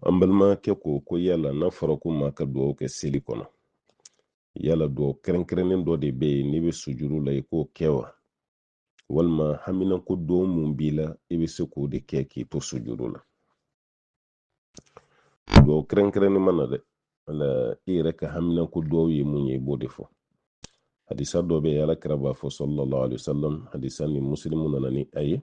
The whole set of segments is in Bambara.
an balimakɛ ko ko yala n'a fɔra ko maa ka dugawu kɛ seli kɔnɔ yala dugawu kɛrɛnkɛrɛnnen dɔ de bɛ yen n'i bɛ sujuru la i k'o kɛ wa walima haminanko dugawu mun b'i la i bɛ se k'o de kɛ k'i to sujuru la dugawu kɛrɛnkɛrɛnnen mana dɛ ala i yɛrɛ ka haminanko dugawu ye mun ye i b'o de fɔ hadisa dɔ bɛ yen ala kira b'a fɔ sallallahu alaihi wasallam hadisa nin muslimu nana ni a ye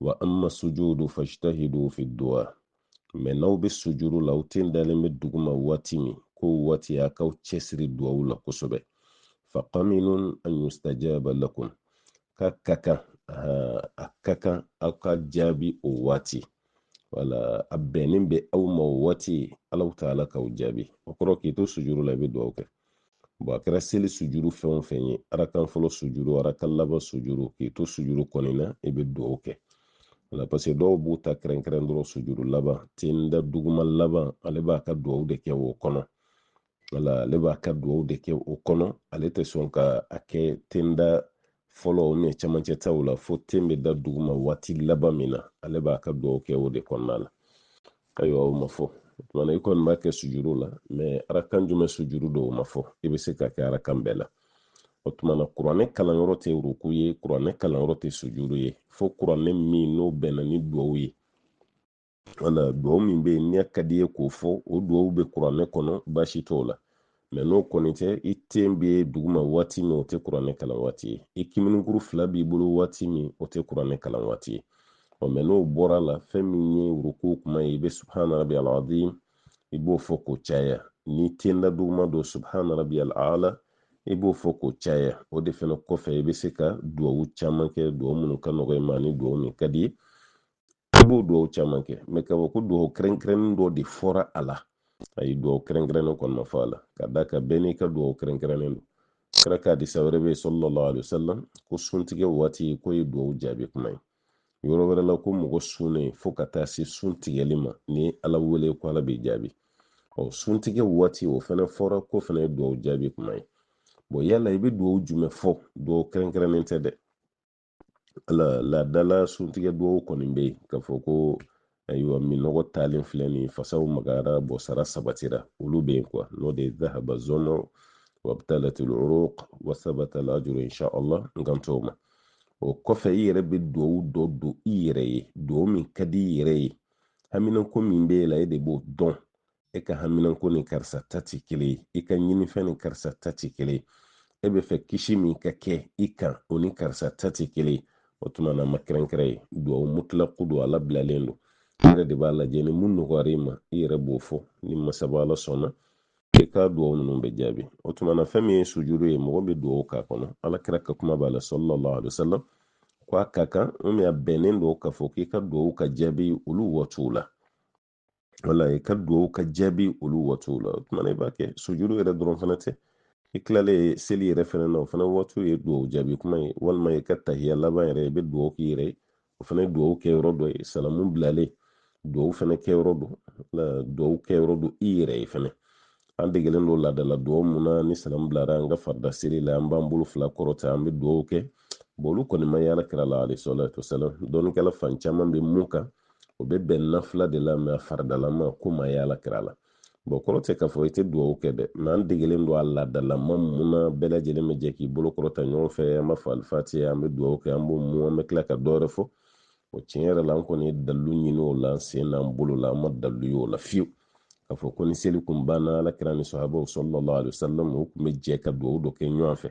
wa amma sujudu fajtahidu fi du'a mɛ n'aw bɛ sujuru la aw ten dalen bɛ duguma waati min k'o waati a k'aw cɛsiri duwawu la kosɛbɛ faqaminun an yustajaba lakum k'a ka kan a ka kan aw ka jaabi o waati wala a bɛnnen bɛ aw ma o waati alahu taala k'aw jaabi o kɔrɔ k'i to sujuru la i bɛ duwawu kɛ bɔn a kɛra seli sujuru fɛn o fɛn ye arakan fɔlɔ sujuru arakan laban sujuru k'i to sujuru kɔni na i bɛ dugawu kɛ wala parce que dɔw b'u ta kɛrɛnkɛrɛn dɔrɔn sujuru laban ten da duguma laban ale b'a ka dugawu de kɛ o kɔnɔ wala ale b'a ka dugawu de kɛ o kɔnɔ ale tɛ sɔn ka a kɛ ten da fɔlɔ o mɛ camancɛ taw la fo ten bɛ da duguma waati laban min na ale b'a ka dugawu kɛ o de kɔnɔna la ayiwa o ma fɔ o tumana i kɔni b'a kɛ sujuru la mɛ arakan jumɛn sujuru don o ma fɔ i bɛ se k'a kɛ arakan bɛɛ la o tumana kuranɛ kalanyɔrɔ tɛ ruku ye kuranɛ kalanyɔrɔ tɛ sujuru ye fo kuranɛ min n'o bɛnna ni duwawu ye wala duwawu min bɛ yen n'a ka d'i ye k'o fɔ o duwawu bɛ kuranɛ kɔnɔ baasi t'o la mɛ n'o kɔni tɛ i ten bɛ duguma waati min o tɛ kuranɛ kalan waati ye i kiminikuru fila b'i bolo waati min o tɛ kuranɛ kalan waati ye ɔ mɛ n'o bɔra a la fɛn min ye ruku kuma ye i bɛ subhana rabiyal azim i b'o fɔ k'o caya n'i ten da duguma don subhana rabiyal ala i b'o fɔ k'o caya o de fana kɔfɛ i bɛ se ka duwawu caman kɛ duwawu minnu ka nɔgɔ i ma ani duwawu min ka d'i ye i b'o dugawu caman kɛ mɛ k'a fɔ ko dugawu kɛrɛnkɛrɛnnen dɔ de fɔra a la ayi dugawu kɛrɛnkɛrɛnnen kɔni ma fɔ a la ka d'a kan bɛɛ n'i ka dugawu kɛrɛnkɛrɛnnen don kira ka hadisa wɛrɛ bɛ yen sallallahu alaihi wasallam ko suntigɛ waati k'o ye dugawu jaabi kuma ye yɔrɔ wɛrɛ la ko mɔgɔ sunnen fo ka taa se sun tigɛli ma n'i ala wele ko ala b'i jaabi ɔ suntigɛ waati o fana fɔra k'o fana ye dugawu jaabi kuma ye bɔn yala i bɛ dugawu jumɛn fɔ dugawu kɛrɛnkɛrɛnnen tɛ dɛ ala laadala suntigɛ dugawu kɔni bɛ yen k'a fɔ ko ayiwa minɔgɔ taalen filɛ nin ye fasaw magayara bɔn sara sabatira olu bɛ yen kuwa n'o de ye dahaba zamau wabtalatil uruq wasabatal ajru insha allah n kan t'o ma o kɔfɛ i yɛrɛ bɛ dugawu dɔ don i yɛrɛ ye dugawu min ka di i yɛrɛ ye haminanko min b'e la e de b'o dɔn e ka haminanko ni karisa ta tɛ kelen ye i ka ɲinifɛn ni karisa ta tɛ kelen ye e b'a fɛ kisi min ka kɛ i kan o ni karisa ta tɛ kelen ye o tuma na ma kɛrɛnkɛrɛn ye duwawu mutilaku don a labilalen don i yɛrɛ de b'a lajɛ ni mun nɔgɔyara i ma i yɛrɛ b'o fɔ ni masaba ala sɔnna i ka duwawu ninnu bɛ jaabi o tuma na fɛn min ye sujuru ye mɔgɔ bɛ duwawu k'a kɔnɔ ala kira ka kuma b'a la sallallahu alaihi wasallam ko a ka kan min a bɛnnen don k'a fɔ k'i ka duwawu ka jaabi olu waatiw la wala i ka duwawu ka jaabi olu waatiw la o tuma na i b'a kɛ sujuru yɛrɛ dɔrɔn fana tɛ i tilalen seli yɛrɛ fana na o fana waatiw ye duwawu jaabi kuma ye walima i ka tahiya laban yɛrɛ i bɛ duwawu k'i yɛrɛ ye o fana ye duwawu kɛ yɔrɔ dɔ ye salamu bilalen duwawu fana kɛ yɔrɔ don duwawu kɛ yɔrɔ don i yɛrɛ ye fana an degelen don laadala duwawu mun na ni salamu bilara an ka farida seli la an b'an bolo fila kɔrɔta an bɛ duwawu kɛ olu kɔni ma ye ala kira la alayhi salatu wasalam dɔnnikɛla fan caman bɛ mun kan o bɛ bɛn nafila de la mais a faridalama ko ma ye ala kira la bon kɔrɔ tɛ k'a fɔ i tɛ duwawu kɛ dɛ mais an degelen don a laadalama mun na bɛɛ lajɛlen bɛ jɛ k'i bolo kɔrɔta ɲɔgɔn fɛ an b'a fɔ alifatiha an bɛ duwawu kɛ an b'o mun an bɛ tila ka dɔwɛrɛ fɔ o tiɲɛ yɛrɛ la an kɔni ye dalilu ɲini o la an sen n'an bolo la an ma dalilu ye o la fiyewu k'a fɔ ko ni seli kun banna ala kira ni sahabaw sallallahu alaihi wasallam u kun bɛ jɛ ka duwawu dɔ kɛ ɲɔgɔn fɛ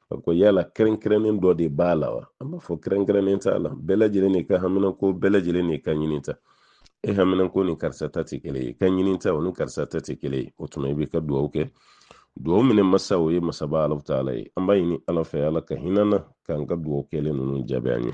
a ko yala kɛrɛnkɛrɛnnen dɔ de b'a la wa an b'a fɔ kɛrɛnkɛrɛnnen t'a la bɛɛ lajɛlen n'i ka haminanko bɛɛ lajɛlen n'i ka ɲinita e haminanko ni karisa ta tɛ kelen ye i ka ɲinita o ni karisa ta tɛ kelen ye o tuma i bɛ ka duwawu kɛ duwawu minɛ masa o ye masaba ala taala ye an b'a ɲini ala fɛ ala ka hinɛ an na k'an ka duwawu kɛlen ninnu jaabi an ye